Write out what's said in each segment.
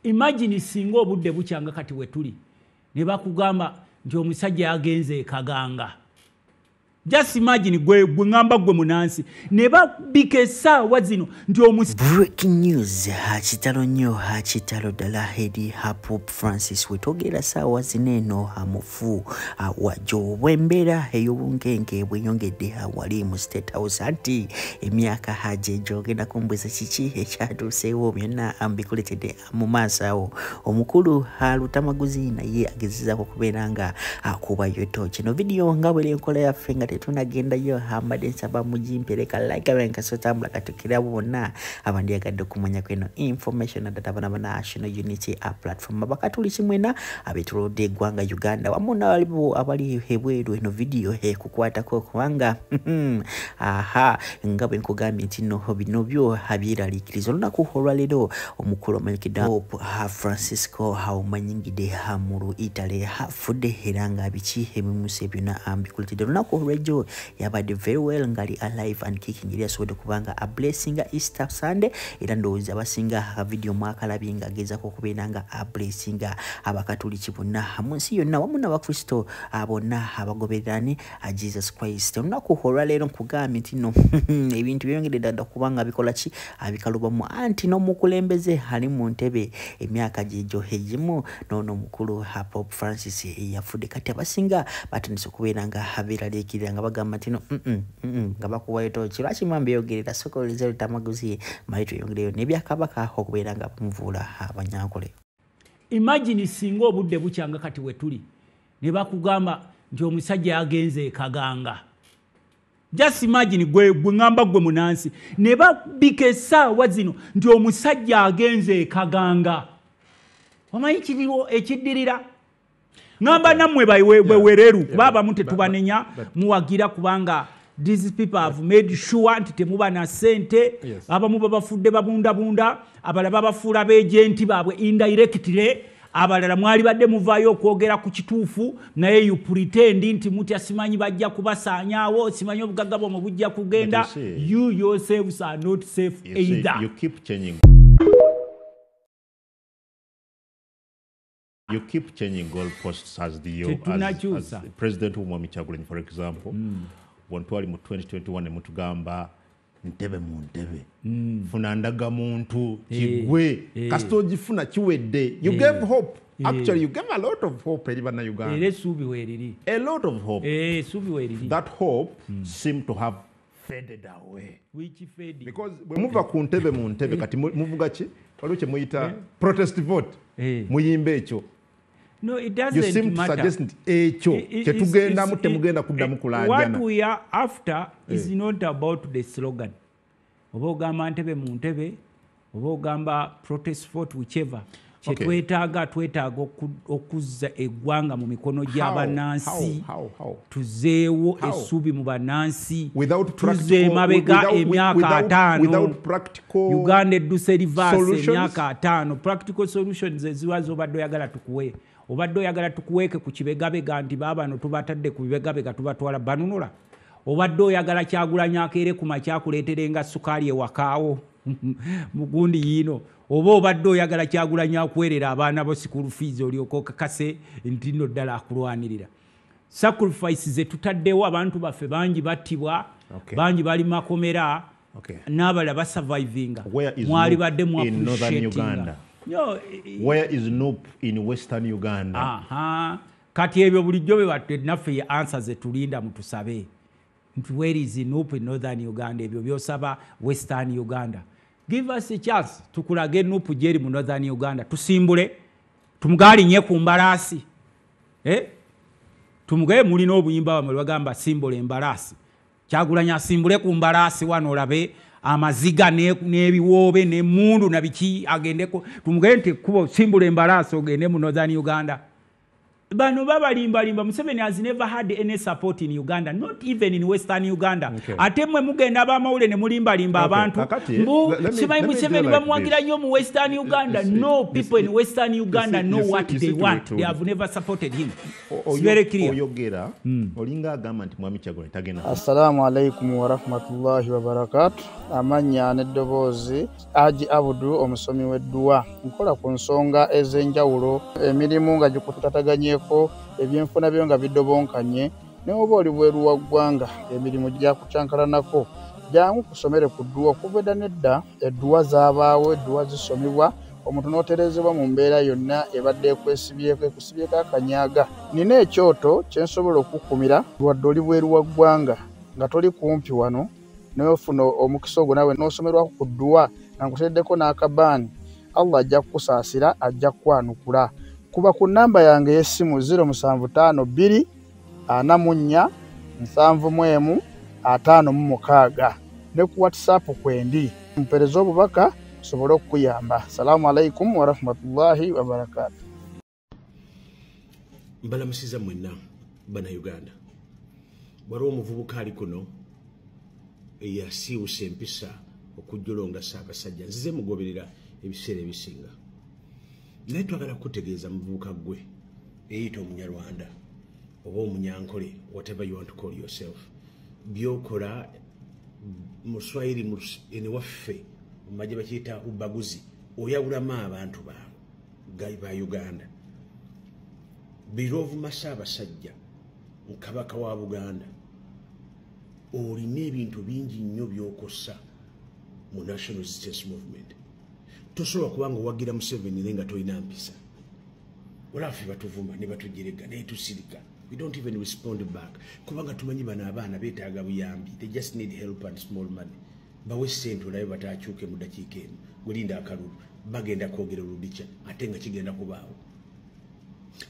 imagine singa obudde bukyanga kati wetuli ne bakugamba nti omusajja yagenze ekaganga just imagine gwe gwe ngamba gwe munansi ne babika esaawa zino nti omus breaking news hakitalo nnyo hakitalo ddala hedi hapup francis wetogera saawa zino eno hamufu fu awa gyobwa embeera ey'obunkenke bweyongedde awali mu state house anti emyaka haji egyogenda kumbuza kiki ekyatuuseewo byonna mbikuletedde mu maaso awo omukulu alutamaguzi naye agezezaako okubeera nga akubayo to kino vidiyo nga bwera enkola yaffe nga tetunagendayo mbadde nsaba mugimpereka like benkasotambula katukira bonna abandyagadde okumanyako eno information adataba na banational unity a platform abakatuli kimwena abetolodde eggwanga uganda wamu nalibo abali ebweru eno vidiyo ekukwatako kubanga aha nga bwe nkugambye nti no bino byo abyeraliikiriza olunaku olwaleero omukulu omanyikidwa hope francisco haumanyingide hamulu italy afudde era nga biki ebimusa byonna ambikuletedde olunaku olwejjo yabadde very well ngali alive and kicking yali asobodde kubanga a blessinga easter sunday era ndowooza abasinga akavidiyo mwakalabye nga agezako okubeera nga a blessinga abakatuliki bonna mu nsi yonna wamu n'abakristo bonna abagobererani a jesus christ olunaku olwaleero nkugambye nti no ebintu byeyongedde ddala kubanga bikola ki abikalubamu anti n'omukulembeze ali mu ntebe emyaka gyegyo egimu n'ono omukulu hapop francis eyafudde kati abasinga batandise okubeera nga abeeraliikirira nga bagamba nti no nga bakuwayo tooki lwaki mwami beyogerera soka oleza lutamaguzi mali tweyongereyo nebyakabaka okubeera nga bamuvuula abanyankole imagine singa obudde bukyanga kati wetuli ne bakugamba nti omusajja yagenze ekaganga just imagine gwe gwe ngamba gwe munansi ne babika esaawa zino nti omusajja agenze ekaganga omanyi kiriwo ekiddirira ngamba nammwe bwewereru kuba abamu tetubanenya muwagira kubanga these people have made sure nti temuba na sente abamu babafudde babundabunda abala babafuula beejenti baabwe indirectly abalala mwalibadde muvaayo okwogera ku kituufu naye you pretend nti mutya simanyi bajja kubasaanyaawo simanyi obugagga bwamwe bujja kugenda you yourselves are not safe either you keep changing. You keep changing goalposts as the yo, as, as president Umwami Chagulanyi, for example. Mm. When twali mu 2021 mutugamba ntebe mu ntebe mm. funa ndaga muntu eh, kigwe hey, eh. hey. kasita ogifuna kiwedde you hey. Eh. gave hope actually you gave a lot of hope eri bannayuganda era esuubi weriri a lot of hope esuubi weriri that hope mm. seem to have faded away which faded because bwe muva ku ntebe mu ntebe kati muvuga ki waliwo kye muyita protest vote muyimba ekyo No, it doesn't you seem matter. to suggest ekyo kyetugendamu temugenda kuddamu kulanjana what we are after eh. is not about the slogan oba ogamba ntebe mu ntebe oba ogamba protest fort whichever kyetwetaaga okay. twetaaga okuzza eggwanga mu mikono gy'abannansi tuzeewo essuubi mu bannansi tuze emabega emyaka ataano uganda edduse rivaasi emyaka ataano practical solutions eziwa zobadde oyagala tukuwe obadde oyagala tukuweeke ku kibegabega nti baabano tubatadde ku bibegabega tubatwala banunula obadde oyagala kyagulanyo akeere ku makyakuleeterenga sukaali ewakaawo mugundi yiino oba obadde oyagala kyagulanyo akuwerera abaana bo sikuulu fiizi olyokokakase nti no ddala akulwanirira sacrifice zetutaddewo abantu baffe bangi battibwa okay. bangi bali makomera okay. nabala ba surviving mwali badde mu appreciating yo where is noop in western uganda aha kati ebyo bulijjo be batte naffe ye answer ze tulinda mutusabe nti where is noop in northern uganda ebyo byosaba western uganda give us a chance tukulage noop jeri mu northern uganda tusimbule tumugali nye ku mbalasi eh tumugaye mulina obuyimba bamwe bagamba simbole mbalasi kyagulanyi asimbule ku mbalaasi wano olabe amaziga n'ebiwoobe n'emundu na biki agendeko tumugende nti ekkubo simbula embalaasi ogende mu northern uganda bano babalimbalimba museveni has never had any support in uganda not even in western uganda okay. ate mwe mugenda abamawule ne mulimbalimba abantu okay. Eh, mbu simanyi museveni bamuwagira nnyo mu western uganda no people in western uganda know what they want they have never supported him oyogera hmm. olinga agamba nti mwami kyagula tagenda assalamu alaikum warahmatullahi wabarakatu amannya n'eddoboozi aji abudu omusomi w'edduwa nkola ku nsonga ez'enjawulo emirimu nga gikutataganyeko ebyenfuna byo nga bidobonkanye newoba oli bweru wa ggwanga emirimu gyakucankalanako jangu kusomere ku dduwa okuveda nedda edduwa zabaawo edduwa zisomibwa omuntu n'otereezebwa mu mbeera yonna ebadde ekwesibyeko ekusibyeko akanyaaga nina ekyoto kye nsobola okukukumira wadde oli bweru wa ggwanga nga toli kumpi wano nofuna omukisa ogwo nawe n'osomerwako ku dduwa nga nkuteeddeko n'akabaani allah ajja kukusaasira ajja kukwanukula kuba ku nnamba yange ey'essimu 0 7 5 2 ana mu nnya nsanvu mu emu ataano mu mukaaga ne ku whatsapp kwendi mpereza obubaka sobole okukuyamba salaamu alaikum warahmatullahi wabarakatu mbalamusiza mwenna banauganda waliwo omuvubuka ali kuno eyasiiwusa empisa okujjula ongasaakasajja nzize mugoberera ebiseera ebisinga naye twagala kukutegeeza muvubuka gwe eyita omunyarwanda oba omunyankole whatever you want to call yourself byokola muswahili eniwaffe mumaje bakiyita ubaguzi oyawulamu abantu baabo gai ba uganda birovumasa abasajja mukabaka wa buganda olina ebintu bingi nnyo byokosa mu national resistance movement tosobola kuba nga owagira museveni naye nga tolina mpisa olafe batuvuma ne batujerega naye tusirika we don't even respond back kubanga tumanyi bano abaana betaaga buyambi they just need help and small money bawe sente olabe batakyuke mu dakiika emu welinda akalulu bagenda kwogera oludica ate nga kigenda kubaawo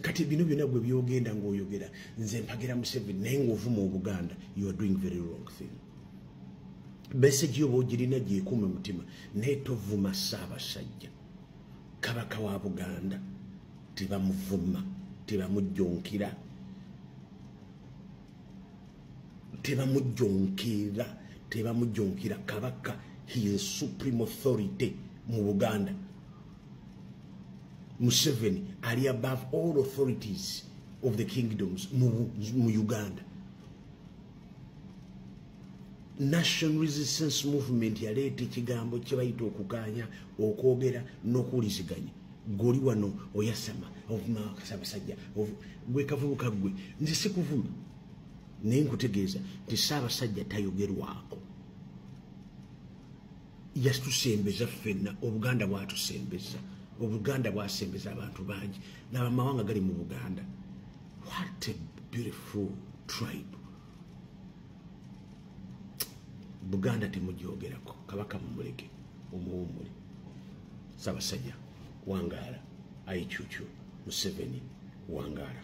kati bino byona gwe byogenda ngaoyogera nze mpagira museveni naye ngaovuma obuganda you are doing very wrong thing meseji oba ogirina gyekuuma mutima naye tovuma ssaabasajja kabaka wa buganda tebamuvuma tebamujjonkira tebamujjonkira tebamujjonkira kabaka he is supreme authority mu buganda museveni ali above all authorities of the kingdoms mu uganda national resistance movement yaleeta ekigambo kyebayita okuganya okwogera nokuwuliziganya goli wano oyasama ovumakasabasajja gwekavubuka gwe nze sikuvuma naye nkutegeeza nti saabasajja tayogerwako yatusembeza ffenna obuganda bwatusembeza obuganda bwasembeza abantu bangi nabamawanga gali mu buganda what a beautiful tribe buganda temujogerako kabaka mumuleke omuwumule sabasajja wangaala aicucu museveni wangaala